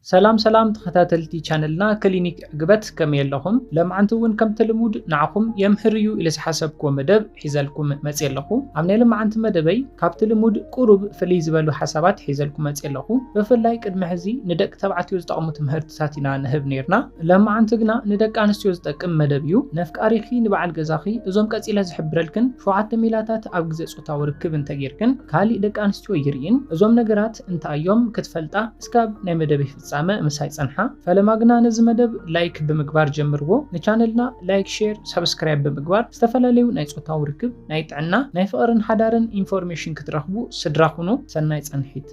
ሰላም ሰላም ተኸታተልቲ ቻነልና ክሊኒክ ዕግበት ከመይ ኣለኹም? ለማዓንቲ እውን ከምቲ ልሙድ ንዓኹም የምህር እዩ ኢለ ዝሓሰብኩዎ መደብ ሒዘልኩም መፅየ ኣለኹ። ኣብ ናይ ለማዓንቲ መደበይ ካብቲ ልሙድ ቁሩብ ፍልይ ዝበሉ ሓሳባት ሒዘልኩም መፅየ ኣለኹ። ብፍላይ ቅድሚ ሕዚ ንደቂ ተባዕትዮ ዝጠቕሙ ትምህርትታት ኢና ንህብ ነይርና። ለማዓንቲ ግና ንደቂ ኣንስትዮ ዝጠቅም መደብ እዩ። ነፍቃሪኺ ንበዓል ገዛኺ እዞም ቀፂለ ዝሕብረልክን ሸውዓተ ሜላታት ኣብ ግዘ ጾታዊ ርክብ እንተ ጌርክን ካሊእ ደቂ ኣንስትዮ ይርእይን እዞም ነገራት እንታይ እዮም ክትፈልጣ እስካብ ናይ መደበይ ፍጻመ ምሳይ ጸንሓ ፈለማ ግና ነዚ መደብ ላይክ ብምግባር ጀምርዎ ንቻነልና ላይክ ሼር ሳብስክራይብ ብምግባር ዝተፈላለዩ ናይ ጾታዊ ርክብ ናይ ጥዕና ናይ ፍቅርን ሓዳርን ኢንፎርሜሽን ክትረኽቡ ስድራ ኩኑ ሰናይ ጸንሒት።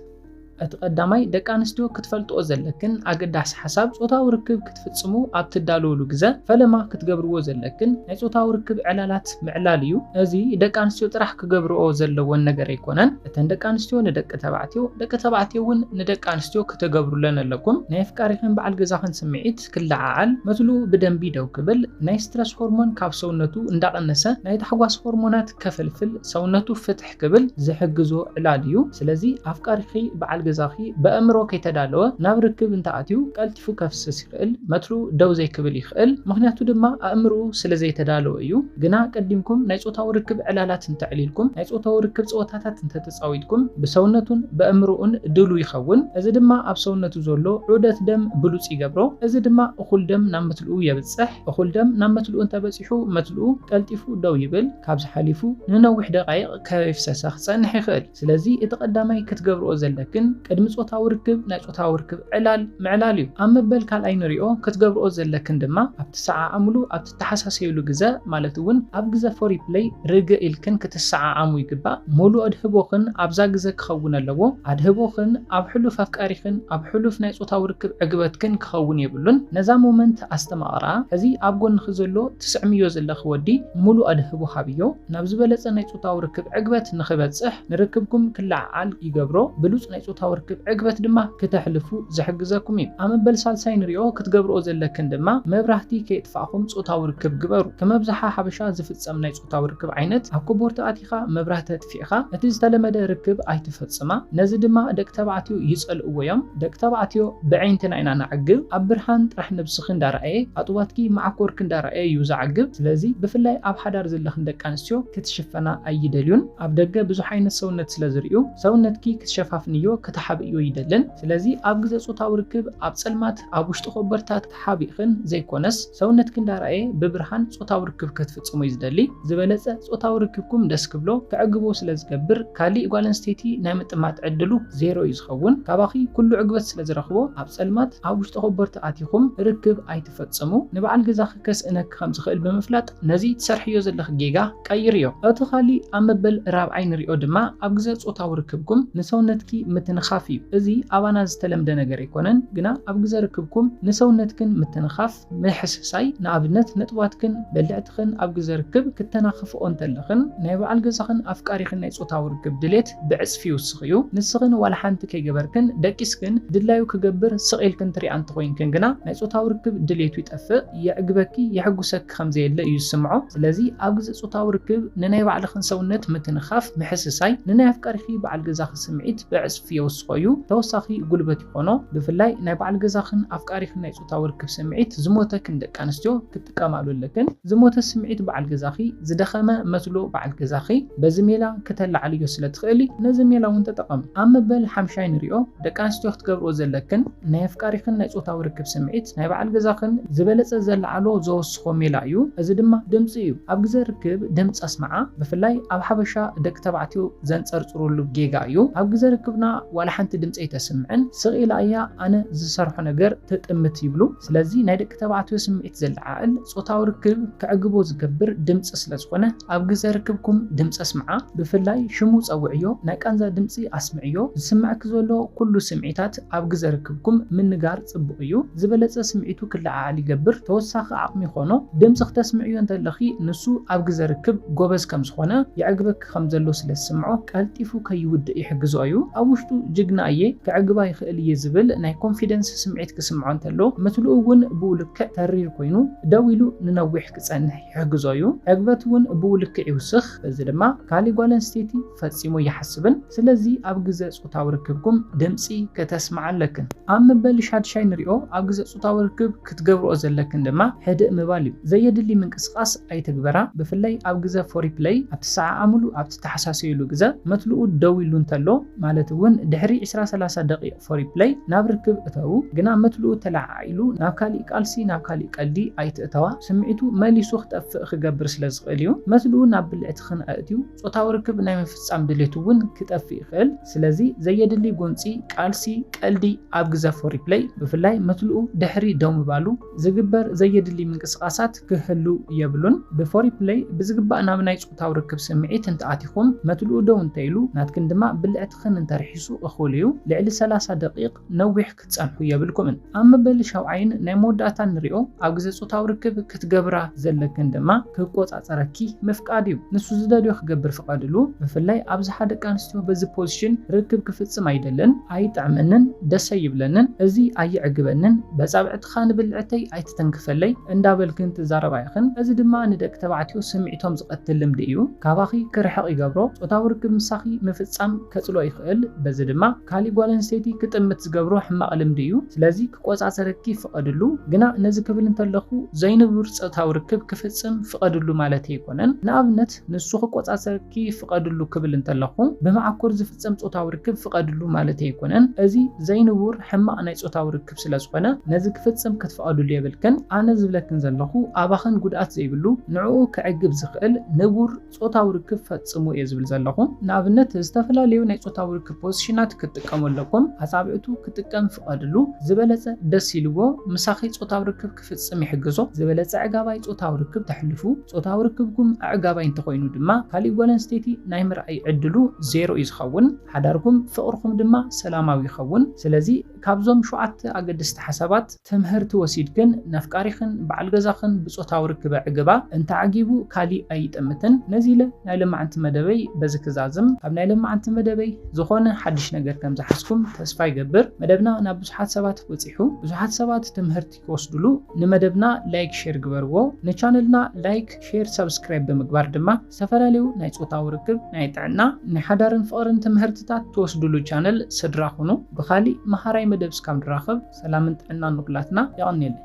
እቲ ቀዳማይ ደቂ ኣንስትዮ ክትፈልጥኦ ዘለክን ኣገዳሲ ሓሳብ ጾታዊ ርክብ ክትፍጽሙ ኣብ ትዳለወሉ ግዘ ፈለማ ክትገብርዎ ዘለክን ናይ ጾታዊ ርክብ ዕላላት ምዕላል እዩ። እዚ ደቂ ኣንስትዮ ጥራሕ ክገብርኦ ዘለወን ነገር ኣይኮነን። እተን ደቂ ኣንስትዮ ንደቂ ተባዕትዮ ደቂ ተባዕትዮ እውን ንደቂ ኣንስትዮ ክተገብሩለን ኣለኩም። ናይ ኣፍቃሪኽን በዓል ገዛኽን ስምዒት ክለዓዓል፣ መትልኡ ብደንቢ ደው ክብል፣ ናይ ስትረስ ሆርሞን ካብ ሰውነቱ እንዳቐነሰ ናይ ታሕጓስ ሆርሞናት ከፍልፍል፣ ሰውነቱ ፍትሕ፣ ክብል ዝሕግዞ ዕላል እዩ። ስለዚ ኣፍቃሪኺ፣ በዓል ገዛኺ፣ በእምሮ ከይተዳለወ ናብ ርክብ እንተኣትዩ ቀልጢፉ ከፍስስ ይኽእል፣ መትርኡ ደው ዘይክብል ይኽእል፣ ምኽንያቱ ድማ ኣእምርኡ ስለዘይተዳለወ እዩ። ግና ቀዲምኩም ናይ ጾታዊ ርክብ ዕላላት እንተዕሊልኩም፣ ናይ ጾታዊ ርክብ ጸወታታት እንተተጻዊትኩም ብሰውነቱን በእምርኡን ድሉው ይኸውን። እዚ ድማ ኣብ ሰውነቱ ዘሎ ዑደት ደም ብሉጽ ይገብሮ። እዚ ድማ እኹል ደም ናብ መትልኡ የብጽሕ። እኹል ደም ናብ መትልኡ እንተበጺሑ፣ ሰሪሑ መትልኡ ቀልጢፉ ደው ይብል፣ ካብዚ ሓሊፉ ንነዊሕ ደቓይቕ ከይፍሰሰ ክጸንሕ ይኽእል። ስለዚ እቲ ቀዳማይ ክትገብርኦ ዘለክን ቅድሚ ጾታዊ ርክብ ናይ ጾታዊ ርክብ ዕላል ምዕላል እዩ። ኣብ መበል ካልኣይ ንሪኦ ክትገብርኦ ዘለክን ድማ ኣብ ትሰዓዓምሉ ኣብ ትተሓሳሰዩሉ ግዘ ማለት እውን ኣብ ግዘ ፎሪፕለይ ርግእ ኢልክን ክትሰዓዓሙ ይግባእ። ሙሉእ ኣድህቦኽን ኣብዛ ግዘ ክኸውን ኣለዎ። ኣድህቦኽን ኣብ ሕሉፍ ኣፍቃሪኽን ኣብ ሕሉፍ ናይ ጾታዊ ርክብ ዕግበትክን ክኸውን የብሉን። ነዛ ሞመንት ኣስተማቕራ፣ ሕዚ ኣብ ጎንኺ ዘሎ ትስዕምዮ ዘለኺ ወዲ ሙሉእ ኣድህቦ ሃብዮ፣ ናብ ዝበለጸ ናይ ጾታዊ ርክብ ዕግበት ንኽበጽሕ ንርክብኩም ክለዓዓል ይገብሮ፣ ብሉጽ ናይ ጾታዊ ርክብ ዕግበት ድማ ክተሕልፉ ዝሕግዘኩም እዩ። ኣብ መበል ሳልሳይ ንሪኦ፣ ክትገብርኦ ዘለክን ድማ መብራህቲ ከየጥፋእኹም ጾታዊ ርክብ ግበሩ። ከም ኣብዝሓ ሓበሻ ዝፍጸም ናይ ጾታዊ ርክብ ዓይነት፣ ኣብ ኮቦርታ ኣቲኻ መብራህቲ ኣጥፊእኻ እቲ ዝተለመደ ርክብ ኣይትፈጽማ፣ ነዚ ድማ ደቂ ተባዕትዮ ይጸልእዎ'ዮም። ደቂ ተባዕትዮ በዒንትና ኢና ነዕግብ፣ ኣብ ብርሃን ጥራሕ ነብስኺ እንዳረኣየ፣ ኣጥዋትኪ መዓኮርኪ እንዳረኣየ'ዩ ዘዕግብ። ስለዚ ብፍላይ ኣብ ሓዳር ዘለኽን ደቂ ኣንስትዮ ክትሽፈና ኣይደልዩን። ኣብ ደገ ብዙሕ ዓይነት ሰውነት ስለ ዝርእዩ ሰውነትኪ ክትሸፋፍንዮ፣ ክተሓብእዮ ይደልን። ስለዚ ኣብ ግዘ ጾታዊ ርክብ ኣብ ጸልማት ኣብ ውሽጢ ኮቦርታ ተሓቢእክን ዘይኮነስ ሰውነትክን ዳራ'የ ብብርሃን ጾታዊ ርክብ ከትፍጽሙ'ዩ ዝደሊ፣ ዝበለጸ ጾታዊ ርክብኩም ደስ ክብሎ ከዕግቦ ስለ ዝገብር ካሊእ ጓል ኣንስተይቲ ናይ ምጥማት ዕድሉ ዜሮ'ዩ ዝኸውን፣ ካባኺ ኩሉ ዕግበት ስለ ዝረኽቦ ኣብ ጸልማት ኣብ ውሽጢ ኮቦርቲ ኣቲኹም ርክብ ኣይትፈጽሙ፣ ንበዓል ገዛኺ ከስእነኪ ከም ዝኽእል ብምፍላጥ። ነዚ ትሰርሕዮ ዘለኺ ጌጋ ቀይርዮ። እቲ ኻሊእ ኣብ መበል ራብዓይ ንሪኦ ድማ ኣብ ግዘ ፆታዊ ርክብኩም ንሰውነትኪ ምትንኻፍ እዩ። እዚ ኣባና ዝተለምደ ነገር ኣይኮነን ግና ኣብ ግዘ ርክብኩም ንሰውነትክን ምትንኻፍ፣ ምሕስሳይ፣ ንኣብነት ነጥባትክን በልዕትኽን ኣብ ግዘ ርክብ ክተናኽፍኦ እንተለኽን ናይ በዓል ገዛኽን ኣፍቃሪኽን ናይ ፆታዊ ርክብ ድሌት፣ ብዕጽፊ ይውስኽ እዩ። ንስኽን ዋላ ሓንቲ ከይገበርክን ደቂስክን ድላዩ ክገብር ስቕ ኢልክን ትሪኣ እንተኾይንክን ግና ናይ ጾታዊ ርክብ ድሌቱ ይጠፍእ፣ የዕግበኪ፣ የሕጉሰኪ ከምዘየለ እዩ ዝስምዖ። ስለዚ ኣብ ግዜ ጾታዊ ርክብ ንናይ ባዕልኽን ሰውነት ምትንኻፍ፣ ምሕስሳይ፣ ንናይ ኣፍቃሪኺ በዓል ገዛኺ ስምዒት ብዕጽፊ የውስኾ እዩ፣ ተወሳኺ ጉልበት ይኾኖ። ብፍላይ ናይ በዓል ገዛኽን ኣፍቃሪኽን ናይ ጾታዊ ርክብ ስምዒት ዝሞተክን ደቂ ኣንስትዮ ክትጥቀማሉ ኣለክን። ዝሞተ ስምዒት በዓል ገዛኺ፣ ዝደኸመ መትሎ በዓል ገዛኺ በዚ ሜላ ክተላዕልዮ ስለ ትኽእሊ ነዚ ሜላ እውን ተጠቐሚ። ኣብ መበል ሓምሻይ ንሪኦ፣ ደቂ ኣንስትዮ ክትገብርኦ ዘለክን ናይ ኣፍቃሪኽን ናይ ጾታዊ ርክብ ስምዒት ናይ በዓል ገዛኽን ዝበለጸ ዘለዓዕሎ፣ ዘወስዶ፣ ንስኩም ሜላ እዩ እዚ ድማ ድምፂ እዩ ኣብ ግዘ ርክብ ድምፂ ኣስምዓ ብፍላይ ኣብ ሓበሻ ደቂ ተባዕትዮ ዘንፀርፅርሉ ጌጋ እዩ ኣብ ግዘ ርክብና ዋላ ሓንቲ ድምፂ ኣይተስምዕን ስቅ ኢላ እያ ኣነ ዝሰርሖ ነገር ትጥምት ይብሉ ስለዚ ናይ ደቂ ተባዕትዮ ስምዒት ዘለዓዕል ፆታዊ ርክብ ከዕግቦ ዝገብር ድምፂ ስለ ዝኮነ ኣብ ግዘ ርክብኩም ድምፂ ኣስምዓ ብፍላይ ሽሙ ፀውዕዮ ናይ ቃንዛ ድምፂ ኣስምዕዮ ዝስመዐኪ ዘሎ ኩሉ ስምዒታት ኣብ ግዘ ርክብኩም ምንጋር ጽቡቕ እዩ ዝበለጸ ስምዒቱ ክለዓዓል ይገብር ተወሳኺ ዓቕሚ ይኾኖ ድምጺ ክተስምዕዮ እንተለኺ ንሱ ኣብ ግዘ ርክብ ጎበዝ ከም ዝኾነ የዕግበኪ ከም ዘሎ ስለ ዝስምዖ ቀልጢፉ ከይውድእ ይሕግዞ እዩ ኣብ ውሽጡ ጅግና እየ ከዕግባ ይኽእል እየ ዝብል ናይ ኮንፊደንስ ስምዒት ክስምዖ እንተሎ ምትልኡ እውን ብኡ ልክዕ ተሪር ኮይኑ ደው ኢሉ ንነዊሕ ክጸንሕ ይሕግዞ እዩ። ዕግበት እውን ብኡ ልክዕ ይውስኽ፣ በዚ ድማ ካልእ ጓል ኣንስተይቲ ፈጺሙ ኣይሓስብን። ስለዚ ኣብ ግዘ ጾታዊ ርክብኩም ድምጺ ከተስምዓ ኣለክን። ኣብ መበል ሻድሻይ ንሪኦ። ኣብ ግዘ ጾታዊ ርክብ ክትገብርኦ ዘለክን ድማ ሕድእ ምባል እዩ። ዘየድሊ ምንቅስቓስ ኣይትግበራ፣ ብፍላይ ኣብ ግዘ ፎሪፕለይ፣ ኣብ ትሰዓዓምሉ፣ ኣብ ትተሓሳሰዩሉ ግዘ። መትልኡ ደው ኢሉ እንተሎ፣ ማለት እውን ድሕሪ ዕስራ ሰላሳ ደቒቕ። ፎሪፕለይ ናብ ርክብ እተዉ ግና መትልኡ ተለዓዒሉ ናብ ካሊእ ቃልሲ ናብ ካሊእ ቀልዲ ኣይትእተዋ ስምዒቱ መሊሱ ክጠፍእ ክገብር ስለ ዝኽእል እዩ መትልኡ ናብ ብልዕትኽን ኣእትዩ ጾታዊ ርክብ ናይ ምፍጻም ድሌቱ ውን ክጠፍእ ይኽእል ስለዚ ዘየድሊ ጎንጺ ቃልሲ ቀልዲ ኣብ ግዘ ፎሪፕለይ ብፍላይ መትልኡ ድሕሪ ደው ምባሉ ዝግበር ዘየድሊ ምንቅስቓሳት ክህሉ የብሉን። ብፎሪፕለይ ብዝግባእ ናብ ናይ ጾታዊ ርክብ ስምዒት እንተ ኣቲኹም፣ መትልኡ ደው እንተ ኢሉ፣ ናትክን ድማ ብልዕትኽን እንተ ርሒሱ እኹል እዩ። ልዕሊ ሰላሳ ደቒቕ ነዊሕ ክትጸንሑ የብልኩምን። ኣብ መበል ሻውዓይን ናይ መወዳእታን ንርኦ፣ ኣብ ግዜ ጾታዊ ርክብ ክትገብራ ዘለክን ድማ ክቆጻጸረኪ ምፍቃድ እዩ። ንሱ ዝደልዮ ክገብር ፍቐድሉ። ብፍላይ ኣብዝሓ ደቂ ኣንስትዮ በዚ ፖዚሽን ርክብ ክፍጽም ኣይደልን። ኣይጥዕመንን ደስ ኣይብለንን እዚ ኣየዕግበንን በጻብዕትኻ ንብልዕተይ ኣይትተንክፈለይ እንዳበልክን ትዛረባ ኢኽን እዚ ድማ ንደቂ ተባዕትዮ ስምዒቶም ዝቐትል ልምዲ እዩ ካባኺ ክርሕቕ ይገብሮ ጾታዊ ርክብ ምሳኺ ምፍጻም ከጽልኦ ይኽእል በዚ ድማ ካሊእ ጓል ኣንስተይቲ ክጥምት ዝገብሮ ሕማቕ ልምዲ እዩ ስለዚ ክቆጻጸረኪ ፍቐድሉ ግና ነዚ ክብል እንተለኹ ዘይንቡር ጾታዊ ርክብ ክፍጽም ፍቐድሉ ማለተይ ኣይኮነን ንኣብነት ንሱ ክቆጻጸረኪ ፍቐድሉ ክብል እንተለኹ ብመዓኮር ፍጸም ጾታዊ ርክብ ፍቀድሉ ማለተይ ኣይኮነን እዚ ዘይንቡር ሕማቅ ናይ ጾታዊ ርክብ ስለ ዝኮነ ነዚ ክፍጽም ክትፍቀድሉ የብልክን ኣነ ዝብለክን ዘለኩ ኣባክን ጉድኣት ዘይብሉ ንዕኡ ከዕግብ ዝክእል ንቡር ጾታዊ ርክብ ፈጽሙ እየ ዝብል ዘለኩ ንኣብነት ዝተፈላለዩ ናይ ጾታዊ ርክብ ፖዝሽናት ክትጥቀሙ ኣለኩም ኣጻብዕቱ ክጥቀም ፍቀድሉ ዝበለጸ ደስ ኢልዎ ምሳኪ ጾታዊ ርክብ ክፍጽም ይሕግዞ። ዝበለጸ ኣዕጋባይ ጾታዊ ርክብ ተሕልፉ። ጾታዊ ርክብኩም ኣዕጋባይ እንተኾይኑ ድማ ካሊእ ጓል ኣንስተይቲ ናይ ምርኣይ ዕድሉ ዜሮ እዩ ዝኸውን። ሓዳርኩም፣ ፍቕርኹም፣ ድማ ሰላማዊ ይኸውን። ስለዚ ካብዞም ሸውዓተ ኣገደስቲ ሓሳባት ትምህርቲ ወሲድክን ነፍቃሪኽን በዓል ገዛኽን ብጾታዊ ርክብ ኣዕግባ። እንተዓጊቡ ካሊእ ኣይጠምትን። ነዚ ኢለ ናይ ለማዓንቲ መደበይ በዚ ክዛዝም። ካብ ናይ ለማዓንቲ መደበይ ዝኾነ ሓድሽ ነገር ከምዝሓዝኩም ተስፋ ይገብር። መደብና ናብ። ብዙሓት ሰባት በፂሑ ብዙሓት ሰባት ትምህርቲ ክወስድሉ ንመደብና ላይክ ሼር ግበርዎ ንቻነልና ላይክ ሼር ሳብስክራይብ ብምግባር ድማ ዝተፈላለዩ ናይ ፆታዊ ርክብ ናይ ጥዕና ናይ ሓዳርን ፍቅርን ትምህርትታት ትወስድሉ ቻነል ስድራ ኩኑ ብካሊእ መሃራይ መደብ እስካብ ንራከብ ሰላምን ጥዕናን ንኩላትና የቀንየለይ።